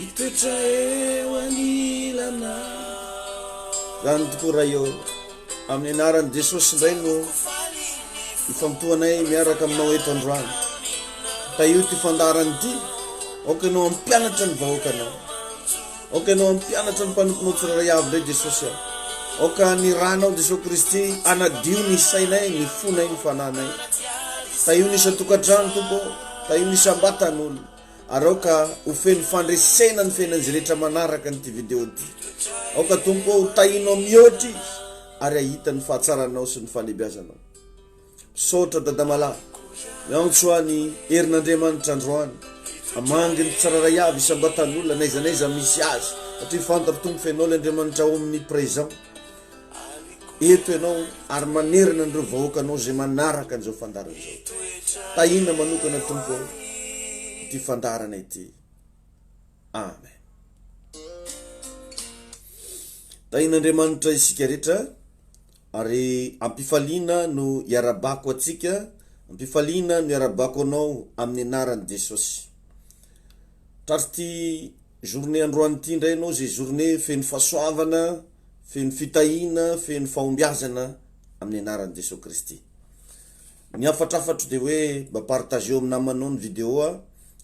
Hitoetra eo anilanao. Raha ny tokoa Ray ô, amin'ny anaran'i Jesosy indray no ifantohanay miaraka aminao eto androany. Tahio ity fandaharana ity, aoka ianao hampianatra ny vahoakanao. Aoka ianao hampianatra ny mpanomponao tsirairay avy indray Jesosy aho. Aoka ny ranao Jesosy Kristy anadio ny sainay, ny fonay, ny fananay. Tahio ny isan-tokantrano tompo, tahio ny isan-batan'olona. Araoka ho feno fandresena ny fiainan'izy rehetra manaraka an'ity video ity. Aoka Tompo ho tahinao mihoatra izy ary ahita ny fahatsaranao sy ny falebiazanao. Misaotra Dadamalahy. Miantso any herin'Andriamanitra androany. Amangy ny tsararay avy isam-batan'olona n'aiza n'aiza misy azy. Satria fantatro Tompo fenao le Andriamanitra omnipresent. eto ianao ary manerana an'ireo vahoakanao izay manaraka an'izao fandarana izao. Tahiana manokana Tompo ao ity fandarana ity. Amen. Tahian'Andriamanitra isika rehetra ary ampifaliana no iarabako atsika, ampifaliana no iarabako anao amin'ny anaran'i Jesosy. Tratry ity journée androany ity indray ianao izay journée feno fahasoavana, Feno fitahiana, feno fahombiazana amin'ny anaran'i Jesoa Kristy. Ny hafatrafatro dia hoe mba partageo amin'ny namanao ny video a,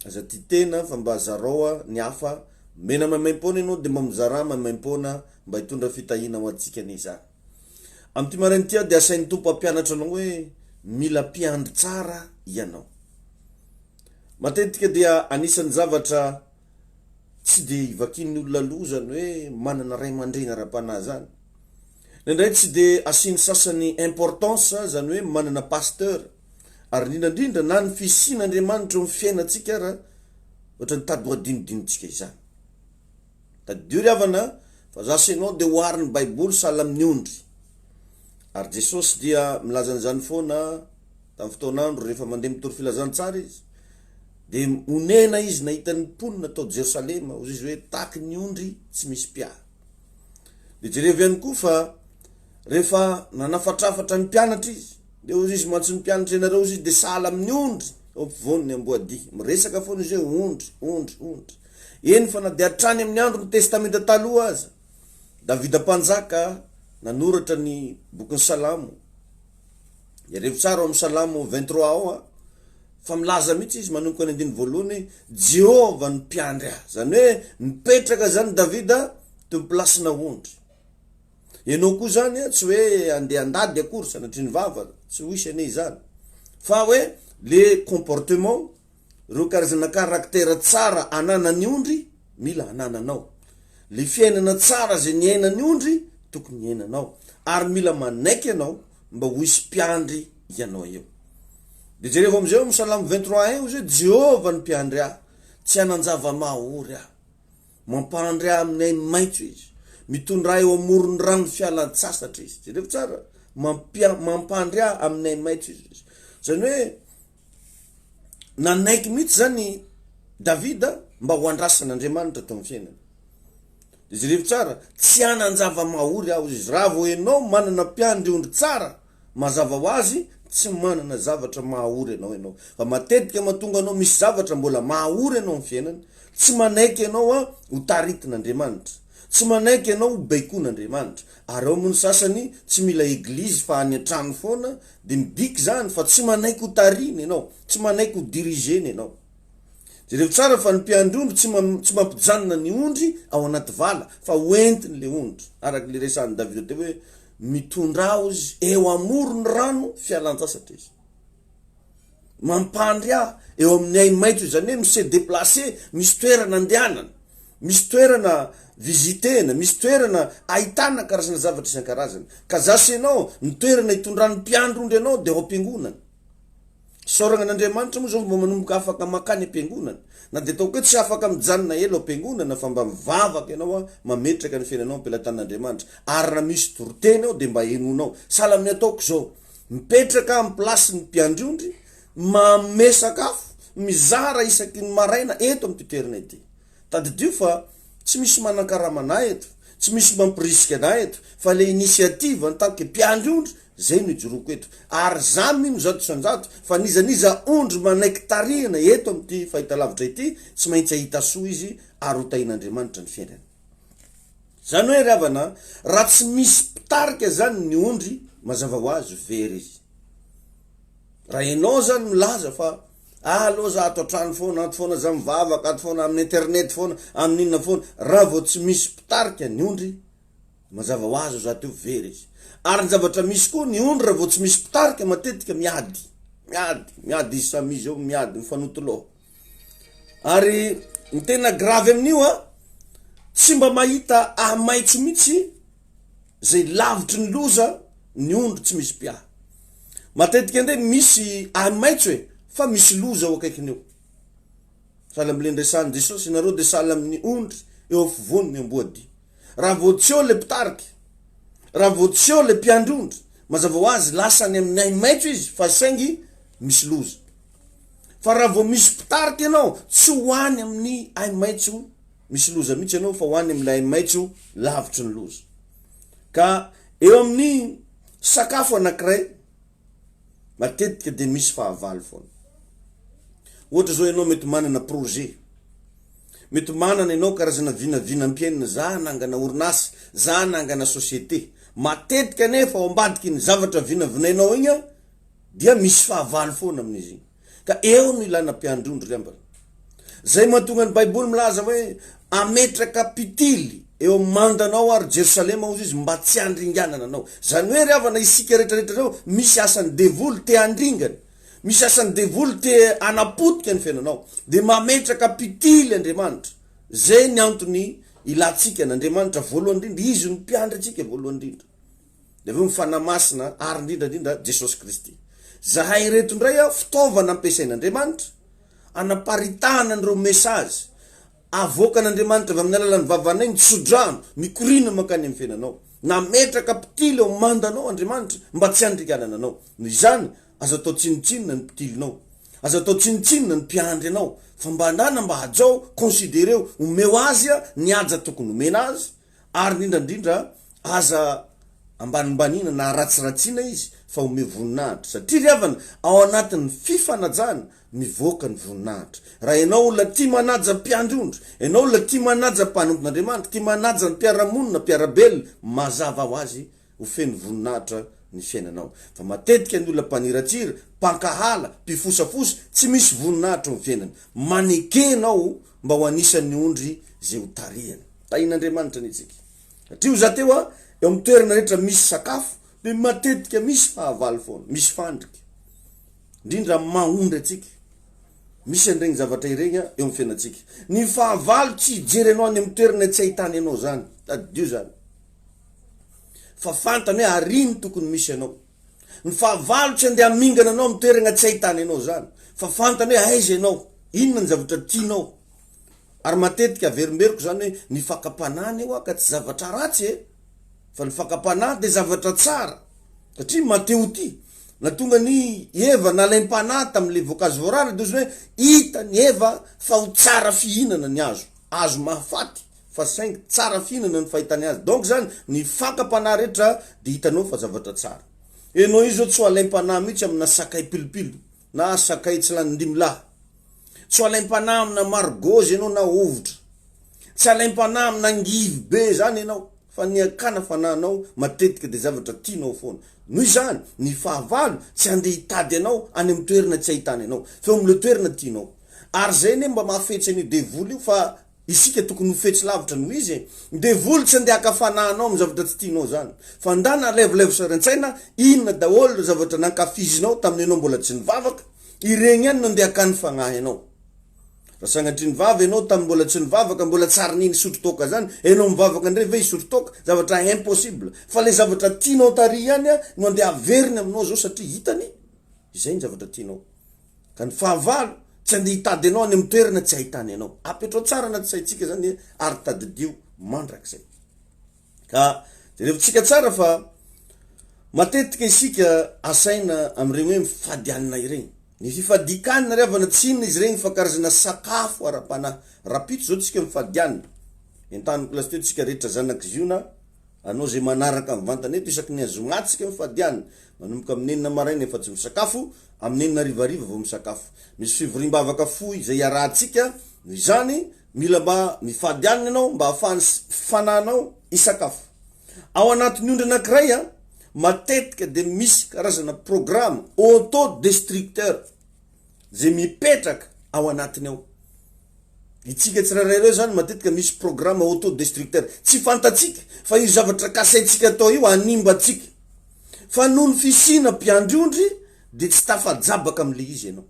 aza tia tena fa mba zarao a, ny hafa, omena maimaimpoana ianao dia mba mizarà maimaimpoana mba hitondra fitahiana ho antsika anie izany. Amin'ity maraina ity aho dia asain'ny Tompo hampianatra anao hoe mila mpiandry tsara ianao. Matetika dia anisan'ny zavatra tsy dia ivakian'ny olona loha izany hoe manana ray aman-dreny ara-panahy izany. Indraindray tsy dia asian'ny sasany importance izany hoe manana pasteur. Ary indrindra indrindra na ny fisian'Andriamanitra eo amin'ny fiainantsika ara ohatra ny tady ho adinodinontsika izany. Tadidio ry havana fa za sy ianao dia oharin'ny baiboly sahala amin'ny ondry. Ary Jesosy dia milaza an'izany foana tamin'ny fotoan'andro rehefa mandeha mitory filazantsara izy. Dia onena izy nahita ny mponina tao Jerosalema, hoy izy hoe, Tahaky ny ondry tsy misy mpiaro. Dia jerevo ihany koa fa rehefa nanafatrafatra ny mpianatra izy, dia hoy izy mantsy ny mpianatra, Ianareo, hoy izy, dia sahala amin'ny ondry eo ampovoan'ny amboadia. Miresaka foana izy hoe ondry, ondry, ondry. Eny fa na dia hatrany amin'ny andron'ny Testamenta Taloha aza, Davida Mpanjaka nanoratra ny bokin'ny Salamo, Jereo tsara ao amin'ny Salamo vingt trois ao a, fa milaza mihitsy izy manomboka ny andininy voalohany, Jehovah no mpiandry ahy. Izany hoe mipetraka izany Davida teo amin'ny plasinà ondry. Ianao koa izany a, tsy hoe andeha handady akory sanatria ny vava, tsy ho hisy anie izany, fa hoe le comportement, Ireo karazana karaktera tsara ananan'ny ondry mila anananao. Le fiainana tsara izay niainan'ny ondry tokony hiainanao. Ary mila manaiky ianao mba ho hisy mpiandry ianao eo. De jereo amin'izay ao amin'ny salamo 23 un ozy hoe Jehovah ny mpiandry ahy, tsy hanan-java-mahaory aho. Mampandry ahy amin'ny ainy maitso izy. Mitondra ahy eo amoron'ny rano fialan-tsasatra izy. Jereo tsara, mampia- mampandry ahy amin'ny ainy maitso izy. Izany hoe nanaiky mihitsy zany Davida mba ho andrasan'Andriamanitra teo amin'ny fiainany. De jerevo tsara, tsy hanan-java-mahory aho izy. Raha vao ianao manana mpiandry ondry tsara, mazava ho azy tsy manana zavatra mahahory anao ianao. Fa matetika mahatonga anao misy zavatra mbola mahahory anao amin'ny fiainana, tsy manaiky ianao ho taritin'Andriamanitra, tsy manaiky ianao ho baikoin'Andriamanitra. Ary ao moa ny sasany tsy mila eglizy fa any an-trano foana Dia midika izany fa tsy manaiky ho tarihina ianao, tsy manaiky ho diriger-na ianao. Jereo tsara fa ny mpiandry ondry tsy tsy mampijanona ny ondry ao anaty vala fa hoentiny ilay ondry, araka ilay resahin'i Davida teo hoe mitondra azy eo amoron'ny rano fialan-tsasatra izy. mampandry ahy eo amin'ny ahi-maitso izany hoe mi-se deplacer, misy toerana andehanana, misy toerana visiter-na, misy toerana ahitana karazana zavatra isan-karazany. Ka za sy ianao, ny toerana hitondran'ny mpiandry ondry anao dia ao am-piangonana. Isaoragna an'Andriamanitra moa zao fa mba manomboka afaka makany am-piangonana. Na dia ataoko hoe tsy afaka mijanona ela ao am-piangonana fa mba mivavaka ianao an, mametraka ny fiainanao am-pelatanan'Andriamanitra. Ary raha misy doro-teny ao dia mba henoinao. Sahala amin'ny ataoko izao, Mipetraka amin'ny place ny mpiandry ondry, manome sakafo, mizara isaky ny maraina eto amin'ity toerana ity. Tadidio fa tsy misy manankarama anah eto, tsy misy mampirisika anah eto fa le initiative an tant que mpiandry ondry zay no ijoroako eto. Ary za mino zato isan-jato fa n'iza n'iza ondry manaiky tarihina eto amin'ity fahitalavitra ity tsy maintsy ahita soa izy ary ho tahin'Andriamanitra ny fiainany. Zany hoe ry havana an, raha tsy misy mpitarika zany ny ondry, mazava ho azy very izy. Raha enao zany milaza fa ah aloha za ato an-trano foana, ato foana za mivavaka, ato foana amin'ny internet foana, amin'ny inona foana, raha vao tsy misy mpitarika ny ondry, mazava ho azy za teo very izy. Ary ny zavatra misy koa, ny ondry raha vao tsy misy mpitarika matetika miady, miady, miady izy samy izy eo miady mifanotoloha. Ary ny tena grave amin'io an, tsy mba mahita ahi-maitso mihitsy izay lavitry ny loza ny ondry tsy misy mpiahy. Matetika andeha misy ahi-maitso e, fa misy loza eo akaikiny eo. Sahala amin'ilay niresahan'i Jesosy, ianareo dia sahala amin'ny ondry eo afovoany ny amboadia. Raha vao tsy eo ilay mpitarika, raha vao tsy eo ilay mpiandry ondry, mazava ho azy lasa any amin'ny ahi-maitso izy fa saingy misy loza. Fa raha vao misy mpitarika ianao, tsy ho any amin'ny haimaitso misy loza mihitsy ianao fa ho any amin'ilay haimaitso lavitry ny loza. Ka eo amin'ny sakafo anankiray, matetika dia misy fahavalo foana. Ohatra zao ianao mety manana projet, mety manana ianao karazana vinavinam-piainana, za hanangana orinasa, za hanangana société. Matetika anefa ao ambadiky ny zavatra vinavinainao igny an, dia misy fahavalo foana amin'izy iny. Ka eo no ilana mpiandrondro ry ambala. Izay mahatonga ny Baiboly milaza hoe, Hametraka mpitily eo amin'ny mandanao ary Jerosalema hozy izy mba tsy handringanana anao. Izany hoe ry havana isika rehetrarehetra ireo misy asan'ny devoly te handringana, misy asan'ny devoly te hanapotika ny fiainanao. Dia mametraka mpitily Andriamanitra. Izay ny antony ilantsika an'Andriamanitra voalohany indrindra. Izy no mpiandry antsika voalohany indrindra. dia avy eo ny Fanahy Masina ary indrindra indrindra Jesosy Kristy. Zahay ireto indray a, fitaovana ampiasain'Andriamanitra anaparitahana an'ireo message avoakan'Andriamanitra avy amin'ny alalan'ny vavanay ny tsodrano mikoriana mankany amin'ny fiainanao. Nametraka mpitily ao amandanao Andriamanitra mba tsy handringanana anao. Noho izany, aza atao tsinontsinona ny mpitilinao. Aza atao tsinontsinona ny mpiandry anao. Fa mba anana mba hajao, considereo, omeo azy ny haja tokony homena azy, Ary indrindra indrindra aza ambanimbaniana na ratsiratsiana izy fa omeo voninahitra satria ry havana ao anatin'ny fifanajana mivoaka ny voninahitra. Raha ianao olona tia manaja ny mpiandry ondry, ianao olona tia manaja ny mpanompon'Andriamanitra, tia manaja ny mpiara-monina, mpiara-belona, mazava ho azy ho feno voninahitra ny fiainanao. Fa matetika ny olona mpaniratsira, mpankahala, mpifosafosa, tsy misy voninahitra eo amin'ny fiainany. Maneke ianao mba ho anisan'ny ondry izay ho tarihany. Tahin'Andriamanitra anie tsika. Satrio za teo a, eo amin'ny toerana rehetra misy sakafo de matetika misy fahavalo foana, misy fandrika. Indrindra amin'ny maha ondry antsika. Misy an'iregny zavatra iregny a, eo amin'ny fiainantsika. Ny fahavalo tsy hijery anao any amin'ny toerana tsy ahitany anao zany. Tadidio zany. Fa fantany hoe àry ny tokony misy anao. Ny fahavalo tsy andeha hamingana anao amin'ny toeragna tsy ahitana ianao izany, fa fantany hoe aiza ianao, inona ny zavatra tianao. Ary matetika averimberiko izany hoe ny fakam-panahy anie ho'a ka tsy zavatra ratsy e! Fa ny fakam-panahy dia zavatra tsara, satria mateo-tia. Nahatonga an'i Eva nalaim-panahy tamin'ilay voankazo voarara dia ozy hoe hita ny Eva fa ho tsara fihinana ny hazo, hazo mahafaty, fa saingy tsara fihinana ny fahitany azy donc zany ny fankam-panahy rehetra dia hitanao fa zavatra tsara enao io zao tsy ho alaim-panahy mihitsy amina sakay pilipili na sakay tsy lany dimy lahy tsy ho alaim-panahy amina margozy enao na hovitra tsy alaim-panahy amina angivy be zany enao fa ny akana fanahinao matetika dia zavatra tianao foana no izany ny fahavalo tsy andeha hitady anao any amin'ny toerana tsy ahitana anao feo amin'ileo toerana tianao ary zay ne mba mahafetsy an'io devoly io fa Isika tokony ho fetsy lavitra noho izy e! Devoly tsy andeha haka fanahy anao amin'ny zavatra tsy tianao izany. Fa ndana alevalevo sary an-tsaina, inona daholo ireo zavatra nankafizinao tamin'ny ianao mbola tsy nivavaka, ireny ihany no andeha hakan'ny fagnahy anao. Raha sangatria nivava ianao tamin'ny mbola tsy nivavaka, mbola tsy ary nisotro toaka izany, ianao mivavaka indray ve hisotro toaka? Zavatra impossible. Fa ilay zavatra tianao tary ihany no andeha haveriny aminao izao satria hitany izay ny zavatra tianao. Ka ny fahavalo, tsy andeha hitady anao any amin'ny toerana tsy ahitany anao. Apetrao tsara anaty saintsika zany ary tadidio mandrakizay. Ka jerevintsika tsara fa matetika isika asaina amin'ireny hoe mifadianina ireny. Ny fifadian-kanina ry havana tsy inona izy ireny fa karazana sakafo ara-panahy. Rahampitso izao tsika mifadianina. Entaniko lasiteo tsika rehetra zanak'i Ziona Anao izay manaraka mivantana eto isaky ny azoma tsika mifadiana, manomboka amin'ny enina maraina efa tsy misakafo, amin'ny enina hariva hariva vao misakafo. Misy fivoriam-bavaka fohy izay iarahantsika, noho izany, mila mba mifadiana ianao mba ahafahan'ny fananao hisakafo. Ao anatin'ny ondry anankiray an, matetika dia misy karazana programa auto-destructeur. izay mipetraka ao anatiny ao. Itsika tsirairay ireo izany matetika misy programme autodestructeur. Tsy fantatsika fa io zavatra kasaintsika atao io hanimba antsika. Fa noho ny fisiana mpiandry ondry dia tsy tafajabaka amin'ilay izy ianao.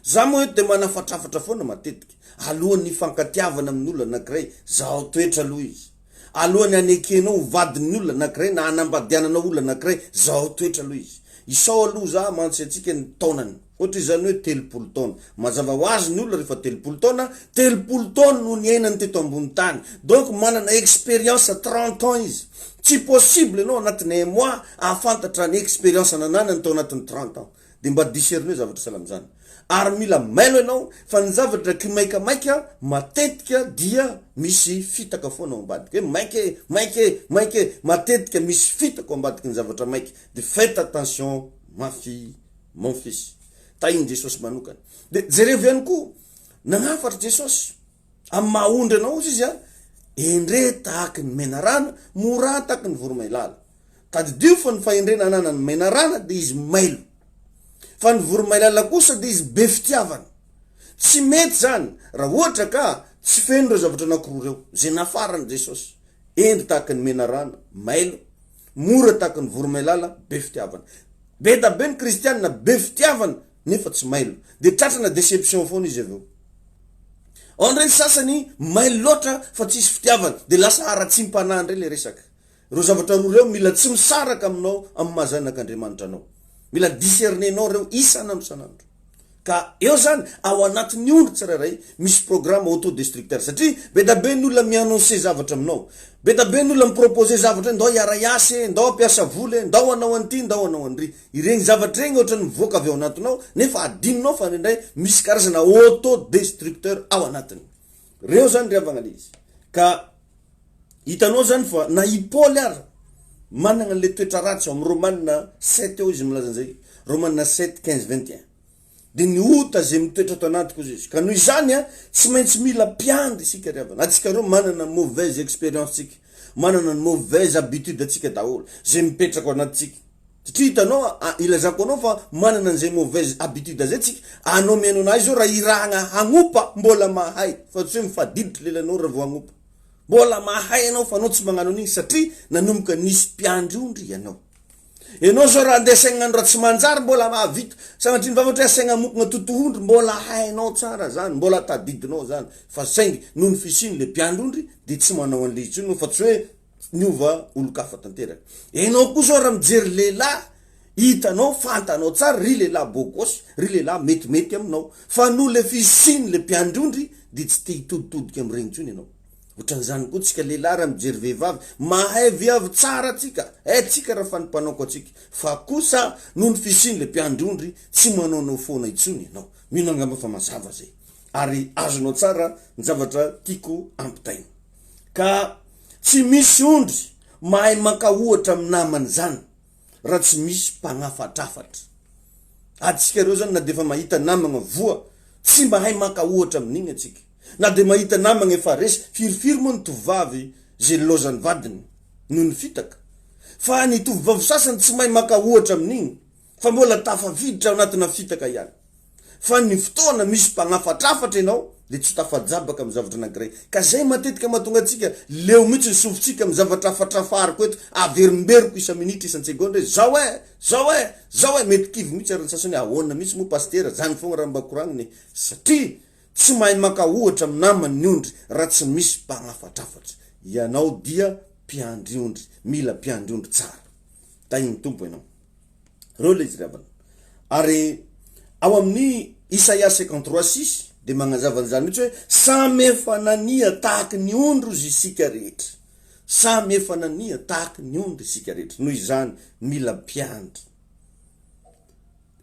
Za moa eto dia manafatrafatra foana matetika alohan'ny hifankatiavana amin'olona anankiray, zahao toetra aloha izy. alohan'ny hanekenao ho vadin'ny olona anakiray na hanambadiananao olona anakiray zahao toetra aloha izy isao aloha za mantsy antsika ny taonany ohatra izany hoe telopolo taona mazava ho azy ny olona rehefa telopolo taona telopolo taona no niainany teto ambony tany donc manana experience trente ans izy tsy possible ianao anatin'ny un mois ahafantatra ny experience nananany tao anatin'ny trente ans Dia mba discernez zavatra sahala amin'izany. Ary mila mailo ianao fa ny zavatra kimaikamaika matetika dia misy fitaka foana ao ambadika. Hoe maika e, maika e, maika e, matetika misy fitaka ao ambadiky ny zavatra maika. Dia faites attention mafy mon fils. Tahin'i Jesosy manokana. Dia jerevo ihany koa, nagnafatra Jesosy. Amin'ny maha ondry anao ozy izy an, endre tahaky ny menarana, mora taky ny voromailala. Tadidio fa ny fahendrena ananan'ny menarana dia izy mailo. Fa ny voromailala kosa dia izy be fitiavana. Tsy mety izany raha ohatra ka tsy feno ireo zavatra anankiroa ireo, izay nafaran'i Jesosy. Endre tahaky ny menarana, mailo, mora tahaky ny voromailala, be fitiavana. Be da be ny kristiana be fitiavana nefa tsy mailo de tratrana deception foana izy avy eo ao ndray ny sasany mailo loatra fa tsisy fitiavana de lasa haratsiam-panahy ndray le resaka reo zavatra roa reo mila tsy misaraka aminao amin'ny mahazanak'Andriamanitra anao mila discernenao reo isan'androsan'andro ka eo zany ao anatin'ny ondry tsirairay misy programme autodestructeur satria be da be ny olona mi-annoncer zavatra aminao be da be ny olona mi-proposer zavatra hoe ndao hiara-hiasa e ndao hampiasa vola e ndao hanao an'ity ndao hanao an'ry Ireny zavatra ireny ohatran'ny mivoaka avy ao anatinao nefa adinonao fa indraindray misy karazana auto destructeur ao anatiny. Reo zany ry havagna le izy. Ka hitanao zany fa na i Paoly ara managna an'le toetra ratsy ao amin'ny Romana sept ao izy milaza an'izay, Romana sept quinze vingt et un. dia ny ota izay mitoetra ato anatiko hoy izy ka noho izany a tsy maintsy mila mpiandry isika ry havana atsika roa manana mauvaise expérience tsika manana ny mauvaise habitude atsika daholo izay mipetraka ao anatintsika satria hitanao a ilazako anao fa manana an'izay mauvaise habitude izay tsika anao mihaino anahy izao raha irahagna hagnopa mbola mahay fa tsy hoe mifadiditra lelanao raha vao hagnopa mbola mahay ianao fa anao tsy magnano an'igny satria nanomboka nisy mpiandry ondry ianao Enao zao raha andeha saigna andro raha tsy manjary mbola mahavita sanatria ny vava ohatra hoe asaigna amokona totohondry mbola hainao tsara zany mbola tadidinao zany fa saingy noho ny fisiany le mpiandrondry de tsy manao an'le intsony anao fa tsy hoe niova olon-kafa tanteraka enao koa zao raha mijery lehilahy hitanao fantanao tsara ry lehilahy beau gosse ry lehilahy metimety aminao fa noho le fisiany le mpiandrondry de tsy te hitoditodika am'regny intsony enao Otran'izany koa tsika lehilahy raha mijery vehivavy mahay viavy tsara tsika eh tsika raha fa ny mpanaoko atsika fa kosa noho ny fisiany le mpiandry ondry tsy manaonao foana intsony ianao mino angamba fa mazava zay ary azonao tsara ny zavatra tiako ampitaina ka tsy misy ondry mahay mankaohatra amin'ny namany zany raha tsy misy mpanafatrafatra. Antsika ireo izany na dia efa mahita namagna voa, tsy mahay maka ohatra amin'igny antsika. Na dia mahita namagna efa resy, firifiry moa ny tovovavy izay nilaozan'ny vadiny noho ny fitaka. Fa ny tovovavy sasany tsy mahay maka ohatra amin'igny, fa mbola tafafiditra ao anatina fitaka ihany. Fa ny fotoana misy mpanafatrafatra ianao dia tsy tafajabaka amin'ny zavatra anankiray. Ka izay matetika mahatonga antsika leo mihitsy ny sofintsika amin'ny zavatra afatrafariko eto, averimberiko isa-minitra, isan-tsegondra hoe, zao e! zao e! zao e! Mety kivy mihitsy ary ny sasany hoe, ahoana mihitsy moa Pasitera, izany foagna raha mba koragnina e! Satria tsy mahay maka ohatra amin'ny namany ny ondry raha tsy misy mpanafatrafatra. Ianao dia mpiandry ondry, mila mpiandry ondry tsara. Tahian'ny Tompo ianao. Ireo ilay fitiavana. Ary ao amin'ny Isaia cinquante trois six dia magnazava an'izany mihitsy hoe samy efa nania tahaky ny ondry izy isika rehetra. Samy efa nania tahaky ny ondry isika rehetra. Noho izany mila mpiandry.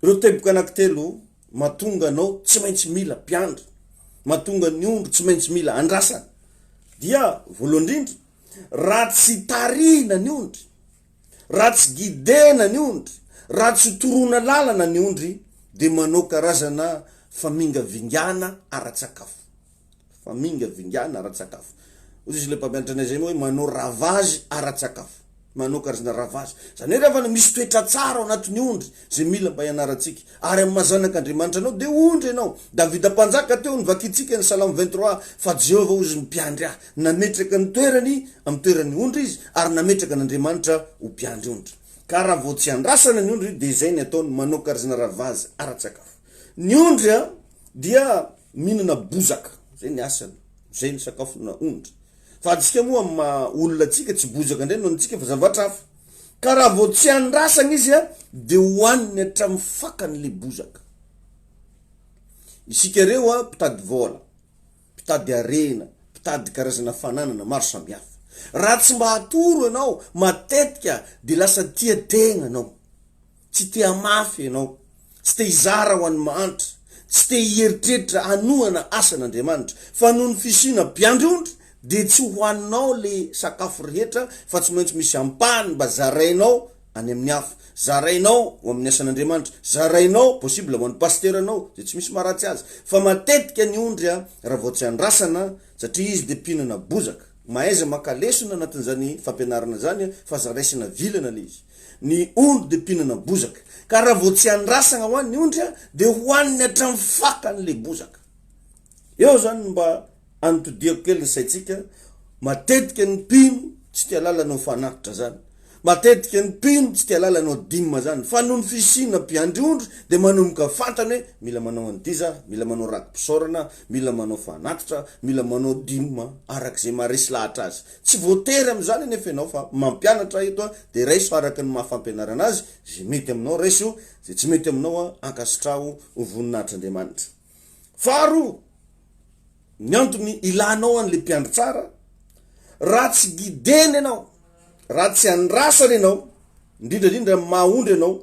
Ireo teboka anankitelo mahatonga anao tsy maintsy mila mpiandry. Mahatonga ny ondry tsy maintsy mila andrasana. Dia voalohany indrindra raha tsy tarihina ny ondry Raha tsy guidena ny ondry, raha tsy toroana lalana ny ondry dia manao karazana famingavingana ara-tsakafo. Famingavingana ara-tsakafo. Hoy izy ilay mpampianatra anay izay hoe manao ravazy ara-tsakafo. Manao karazana ravazy. Izany hoe raha misy toetra tsara ao anatin'ny ondry, izay mila mba hianarantsika. Ary amin'ny maha-zanak'Andriamanitra anao, dia ondry ianao. Davida Mpanjaka teo, novakintsika ny Salamo vingt trois, Fa Jehovah ozy no mpiandry ahy. Nametraka ny toerany amin'ny toeran'ny ondry izy, ary nametraka an'Andriamanitra ho mpiandry ondry. Ka raha vao tsy andrasana ny ondry, dia izay ny ataony, manao karzna ravazy ara-tsakafo. Ny ondry dia mihinana bozaka, izay ny asany, izay ny sakafona ondry. Fa antsika moa amin'ny maha-olona antsika, tsy bozaka indray no hanintsika fa zavatra hafa. Ka raha vao tsy andrasana izy dia hohaniny hatramin'ny fakany le bozaka. Isika reo a, mpitady vola, mpitady harena, mpitady karazana fananana maro samihafa. Raha tsy mba atoro ianao matetika dia lasa tia tegna anao. Tsy te hamafy ianao. Tsy te hizara ho an'ny mahantra. Tsy te hieritreritra hanohana asan'Andriamanitra. Fa noho ny fisiana mpiandry ondry, dia tsy ho haninao ilay sakafo rehetra, fa tsy maintsy misy ampahany mba zarainao any amin'ny hafa. Zarainao ho amin'ny asan'Andriamanitra. Zarainao, possible, ho an'ny pasiteranao, izay tsy misy maharatsy azy. Fa matetika ny ondry, raha vao tsy andrasana, satria izy dia mpihinana bozaka. Mahaiza maka lesona anatin'izany fampianarana izany, fa aza raisina vilana ilay izy. Ny ondry dia mpihinana bozaka. Ka raha vao tsy andrasagna ho an'ny ondry a, dia hohaniny hatramin'ny fakany ilay bozaka. Eo izany no mba anotodiako kely ny saintsika, matetika ny mpino tsy tia lalana ao Fanatitra izany, matetika ny mpino tsy tia lalana ao Dim izany, fa noho ny fisiana mpiandry ondry dia manomboka fantany hoe mila manao an'ity za, mila manao rakipisaorana, mila manao Fanatitra, mila manao Dim araka izay maharesy lahatra azy. Tsy voatery amin'izany anefa ianao fa mampianatra ahy eto aho dia raiso araka ny maha fampianarana azy izay mety aminao raiso, izay tsy mety aminao aho ankasitraho ho voninahitr'Andriamanitra. Faharoa, ny antony ilanao an'ilay mpiandry tsara, raha tsy guidena ianao, raha tsy andrasana ianao, indrindra indrindra amin'ny maha ondry ianao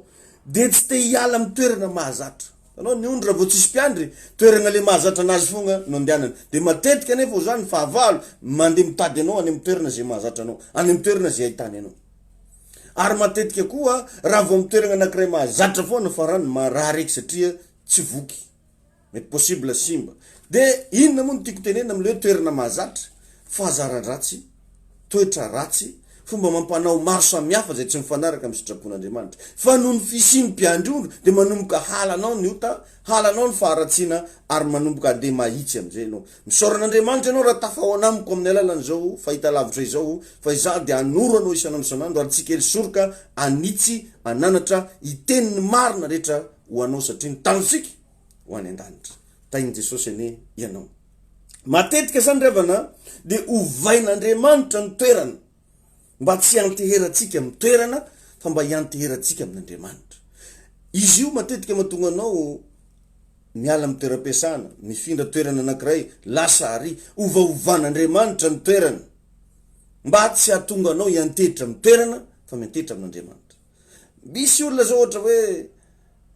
dia tsy te hiala amin'ny toerana mahazatra. Anao ny ondry raha vao tsisy mpiandry, toerana le mahazatra anazy fogna no andehanany. De matetika anefa ozy zany fahavalo mande mitady anao any am toerana ze mahazatra anao, any am toerana ze ahitany anao. Ary matetika koa raha vao am toerana anakiray mahazatra foana farany marary eky satria tsy voky, mety possible simba. De inona moa no tiako tenenina amle hoe toerana mahazatra, fahazaran-dratsy. toetra ratsy, fomba amam-panao maro samihafa izay tsy mifanaraka amin'ny sitrapon'Andriamanitra. Fa noho ny fisian'ny mpiandry ondry dia manomboka halanao ny ota, halanao ny faharatsiana ary manomboka handeha mahitsy amin'izay ianao. Misaora an'Andriamanitra ianao raha tafahoana amiko amin'ny alalan'izao fahitalavitra izao fa izaho dia hanoro anao isan'andro isan'andro ary tsy kely soroka hanitsy an'anatra hiteny ny marina rehetra ho anao satria ny tanintsika ho any an-danitra. Tahin'i Jesosy anie ianao. Matetika izany ry havana dia ovain'Andriamanitra ny toerana mba tsy hianteherantsika amin'ny toerana fa mba hianteherantsika amin'Andriamanitra. Izy io matetika mahatonga anao miala amin'ny toeram-piasana, mifindra toerana anankiray, lasa àry. Ovaovan'Andriamanitra ny toerana mba tsy hahatonga anao hiantehitra amin'ny toerana fa miantehitra amin'Andriamanitra. Misy olona izao ohatra hoe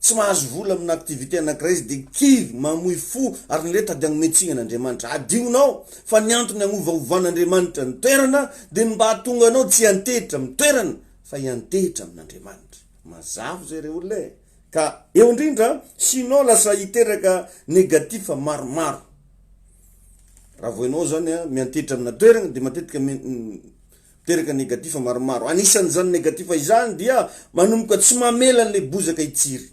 Tsy mahazo vola amina activité anankiray izy dia kivy, mamoy fo ary ny lenta dia hanome tsiny an'Andriamanitra. Adinonao fa ny antony hagnovahovan'Andriamanitra ny toerana dia ny mba hahatonga anao tsy hiantehitra amin'ny toerana fa hiantehitra amin'Andriamanitra. Mazava izay re olona e! Ka eo indrindra sinon lasa hiteraka negatif maromaro raha vao enao zany miantehitra amina toerana dia matetika Miteraka negatif maromaro. Anisan'izany negatif izany dia manomboka tsy mamela an'ilay bozaka hitsiry.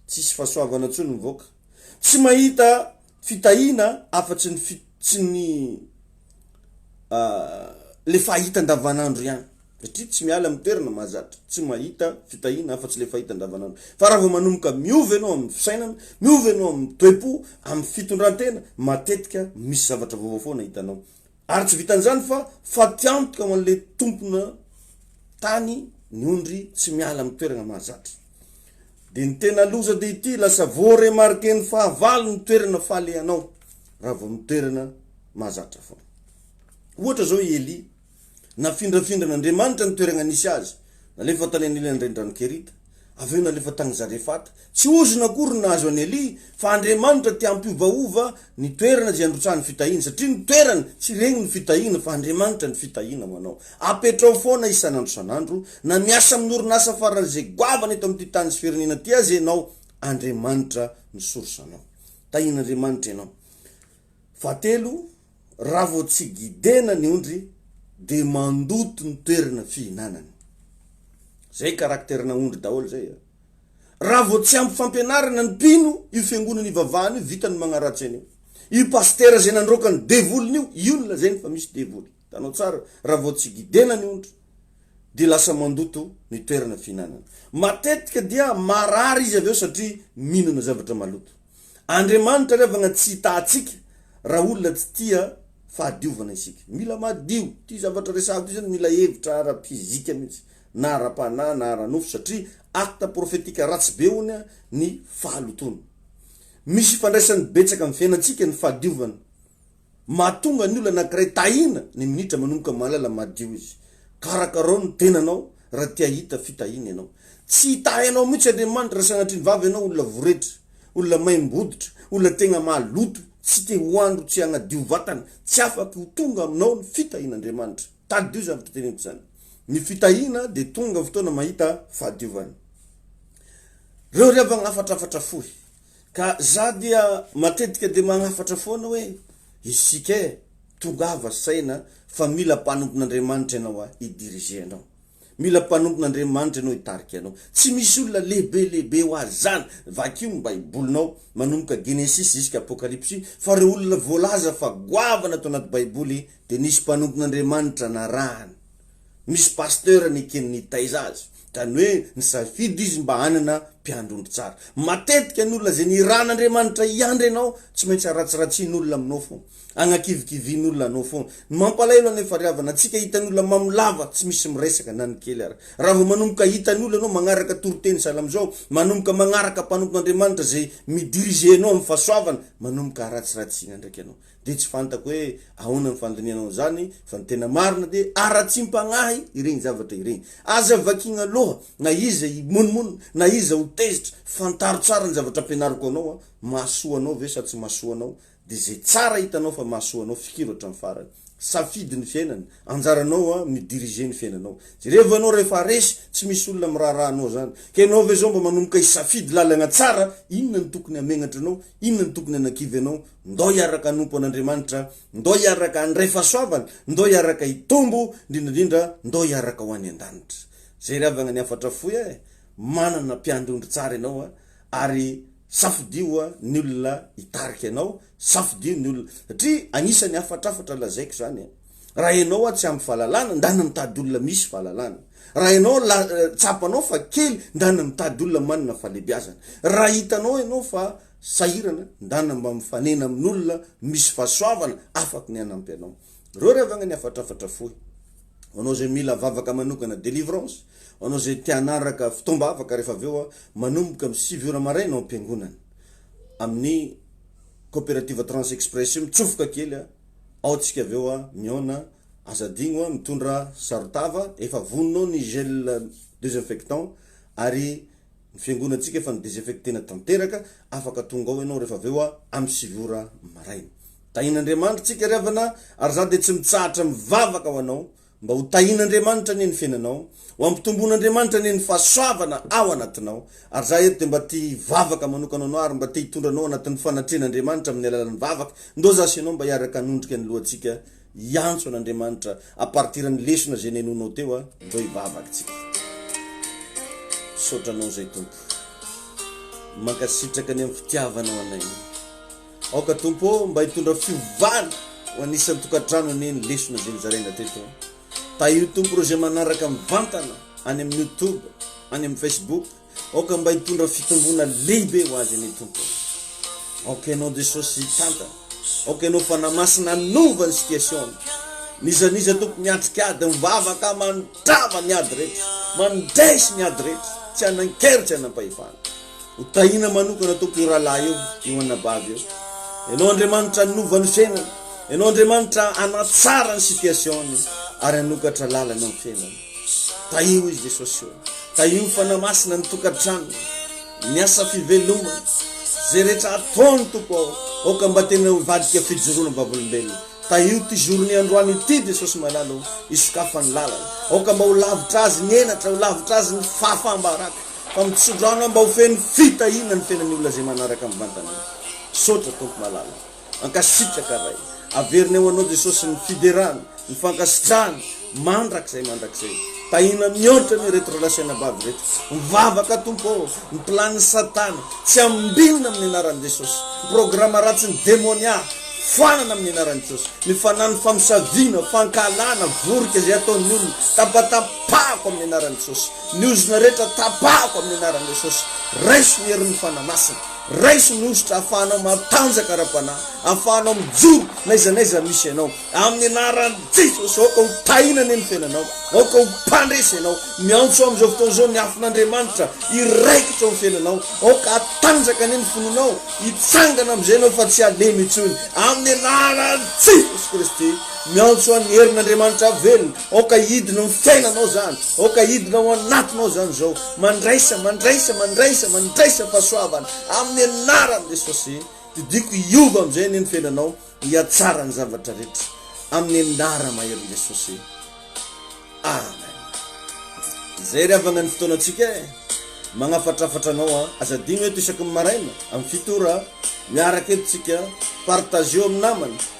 Tsisy fahasoavana intsony ny vahoaka. Tsy mahita fitahiana afa-tsy ny fi, tsy ny le fahita andavanandro ihany. Satria tsy miala amin'ny toerana mahazatra. Tsy mahita fitahiana afa-tsy le fahita andavanandro. Fa raha vao manomboka miova ianao amin'ny fisainana, miova ianao amin'ny toe-po, amin'ny fitondrantena, matetika misy zavatra vaovao foana hitanao. Ary tsy vitan'izany fa faty antoka ho an'ilay tompona tany ny ondry tsy miala amin'ny toerana mahazatra. Dia ny tena loza dia ity, lasa voaremarken'ny fahavalo ny toerana falehanao raha vao amin'ny toerana mahazatra foana. Ohatra izao i Elia, nafindrafindran'Andriamanitra ny toerana nisy azy, nalefa tany anilany renirano Kerita, Avy eo nalefa tany Zarefata. Tsy ozona akory no nahazo an'i Elia, fa Andriamanitra te hampiovaova ny toerana izay androtsahan'ny fitahiana, satria ny toerana tsy regny ny fitahiana fa Andriamanitra ny fitahiana ho anao. Apetraho foana isan'andro isan'andro, na miasa amin'ny orinasa faran'izay goavana eto amin'ity tany sy firenena ity aza ianao, Andriamanitra no source-nao. Tahian'Andriamanitra ianao. Fahatelo, Raha vao tsy gidena ny ondry dia mandoto ny toerana fihinanany. Zay karakterina ondry daholo zay a. Raha vao tsy ampy fampianarana ny mpino io fiangonana ivavahana io vita ny magnaratsy an'io. Io pasitera zay nandroaka ny devoliny io, io no lazainy fa misy devoly. Hitanao tsara, raha vao tsy gidena ny ondry dia lasa mandoto ny toerana fihinanany. Matetika dia marary izy avy eo satria mihinana zavatra maloto. Andriamanitra revagna tsy hita atsika raha olona tsy tia fahadiovana isika. Mila madio. Ty zavatra resahako ty zany mila hevitra ara physique mintsy na ara panahy na ara nofo satria acte prophetique ratsy be honia ny fahalotoana. Misy ifandraisany betsaka am fiainantsika ny fahadiovana. Mahatonga ny olona anankiray tahiana ny minitra manomboka mahalala madio izy. Karakarao ny tenanao raha te hahita fitahiana ianao. Tsy hitahy anao mihitsy Andriamanitra raha sanatria ny vava ianao olona voretra, olona maimbo-hoditra, olona tegna maloto, tsy te ho andro, tsy hagnadio vatana. Tsy afaka ho tonga aminao ny fitahian'Andriamanitra. Tadidio izany fiteneniko izany. Ny fitahiana dia tonga fotoana mahita fahadiovana. Reo ry havagna hafatrafatra fohy. Ka za dia matetika dia magnafatra foana hoe isika eh, tongava saina fa mila mpanompon'Andriamanitra ianao ah hi diriger anao. Mila mpanompon'Andriamanitra ianao hitarika anao. Tsy misy olona lehibe lehibe ho azy zany. Vakio ny baibolinao manomboka Genesisy ziska Apokalypsy fa reo olona voalaza fa goavana ato anaty baiboly dia nisy mpanompon'Andriamanitra narahany. misy pasteur neken'ny nitaiza azy, zany hoe nisafidy izy mba hanana mpiandry ondry tsara. Matetika ny olona izay nirahan'Andriamanitra hiandry anao tsy maintsy aratsiratsian'olona aminao foana, agnakivikivian'olona anao foana. Ny mampalahelo anefa ry havana, antsika hitan'ny olona mamo lava tsy misy miresaka na ny kely ary. Raha vao manomboka hitan'ny olona anao magnaraka toriteny sahala amin'izao, manomboka magnaraka mpanompon'Andriamanitra izay mi-diriger anao amin'ny fahasoavana, manomboka aratsiratsiana ndraiky anao. dia tsy fantako hoe ahoana ny fandinihanao an'izany fa ny tena marina dia haratsiam-pagnahy ireny zavatra ireny. Aza vakiana loha na iza himonomono na iza ho tezitra, fantaro tsara ny zavatra ampianariko anao a, mahasoa anao ve sa tsy mahasoa anao dia izay tsara hitanao fa mahasoa anao fikiro hatramin'ny farany. Safidy ny fiainana, anjaranao a mi diriger ny fiainanao. Jerevo ianao rehefa resy tsy misy olona miraharaha anao izany ka ianao ve izao mba manomboka hisafidy lalagna tsara inona no tokony hamegnatra anao Inona no tokony hanakivy anao? Ndao hiaraka hanompo an'Andriamanitra, ndao hiaraka handray fahasoavana, ndao hiaraka hitombo, indrindra indrindra ndao hiaraka ho any an-danitra. Jery avy agnany hafatra fohy eh! Manana mpiandry ondry tsara ianao a! Ary safidio a ny olona hitarika anao, safidio ny olona, satria agnisan'ny hafatrafatra lazaiko izany eh! Raha ianao hoa tsy ampy valalana, ndana mitady olona misy valalana. Raha ianao la, tsapanao fa kely, ndana mitady olona manana fahalebiazana. Raha hitanao ianao fa sahirana, ndana mba mifanena amin'olona misy fahasoavana afaky ny hanampy anao. Reo ry havagna ny hafatrafatra fohy. Ho anao zay mila vavaka manokana delivrance, ho anao zay te hanaraka fotoam-bavaka refa avy eo hoa manomboka am sivy ora maraina ao am-piangonana. Amin'ny Coopérative Trans Express io mitsofoka kely a. Ao tsika avy eo a mihaona a. Aza adigno a mitondra saron-tava efa vononao ny gel desinfectant ary ny fiangonantsika efa nodesinfectena tanteraka afaka tonga ao ianao rehefa avy eo a amin'ny sivy ora maraina. Tahian'Andriamanitra tsika ry havana ary za dia tsy mitsahatra mivavaka ho anao Mba ho tahin'Andriamanitra anie ny fiainanao, ho ampitomboin'Andriamanitra anie ny fahasoavana ao anatinao, ary za eto dia mba te hivavaka manokana ho anao ary mba te hitondra anao anatin'ny fanatrehan'Andriamanitra amin'ny alalan'ny vavaka, ndao za sy ianao mba hiaraka hanondrika ny lohantsika hiantso an'Andriamanitra à partir ny lesona izay nenoinao teo a, ndao hivavaka tsika. Misaotra anao zay Tompo, mankasitraka ny amin'ny fitiavanao anay. Aoka Tompo ô mba hitondra fiovana ho anisan'ny tokantrano anie ny lesona izay nozaraina teto. Tahio Tompo ireo izay manaraka mivantana any amin'ny youtube, any amin'ny facebook, aoka mba hitondra fitomboana lehibe ho azy anie Tompo ô. Aoka Ianao Jesosy hitantana, aoka Ianao Fanahy Masina hanova ny situation-ny. N'iza n'iza Tompo miatrika ady mivavaka mandrava ny ady rehetra, mandresy ny ady rehetra, tsy hanan-kery, tsy hanam-pahefana. Ho tahiana manokana Tompo eo rahalahy eo, eo anabavy eo. Ianao Andriamanitra hanova ny fiainany. Ianao Andriamanitra hanatsara ny situation-ny ary hanokatra lalana amin'ny fiainany. Tahio izy Jesosy eo. Tahio ny fanahy masina ny tokantranony, ny asa fivelomany. Zay rehetra ataony Tompo ao, aoka mba tena hivadika fijoroana vavolombelona. Tahio ity jour-ny androany ity Jesosy malala o, hisokafany lalana. Aoka mba ho lavitra azy ny henatra, ho lavitra azy ny fahafaham-baraka. fa mitso-drano mba ho feno fitahiana ny fiainan'ny olona izay manaraka mivantana io. Misaotra Tompo malala. Mankasitraka Ray. Averina eo Anao Jesosy ny fiderana, ny fankasitrahana, mandrakizay mandrakizay. Tahiana mihoatra anie ireto ralahy sy anabavy ireto. Mivavaka Tompo ô, ny planin'i Satana tsy ambinina amin'ny anaran'i Jesosy. Ny programa ratsin'ny demonia foanana amin'ny anaran'i Jesosy. Ny fanan'ny famosaviana, fankahalana, vorika izay ataon'ny olona, tapatapahako amin'ny anaran'i Jesosy. Ny ozona rehetra tapahako amin'ny anaran'i Jesosy. Raiso ny herin'ny Fanahy Masina. Raiso ny hosotra ahafahanao matanjaka ara-panahy, ahafahanao mijoro n'aiza n'aiza misy ianao. Amin'ny anaran'i Jesosy, aoka ho tahina anie ny fiainanao. Aoka ho mpandresy ianao. Miantso aho amin'izao fotoana izao ny afon'Andriamanitra hiraikitra ao amin'ny fiainanao. Aoka hatanjaka anie ny finoanao. Hitsangana amin'izay ianao fa tsy halemy intsony. Amin'ny anaran'i Jesosy Kristy, miantso aho ny herin'Andriamanitra velona. Aoka hidina ao ny fiainanao izany, aoka hidina ao anatinao izany izao. Mandraisa, mandraisa, mandraisa, mandraisa fahasoavana amin'ny anaran'i Jesosy. Didiako hiova amin'izay anie ny fiainanao, hihatsara ny zavatra rehetra amin'ny anara maherin'i Jesosy. Amen. Izay ry havana ny fotoanantsika e. Magnafatrafatra anao a. Aza adino eto isaky ny maraina amin'ny fito ora. Miaraka eto tsika, partageo amin'ny namana.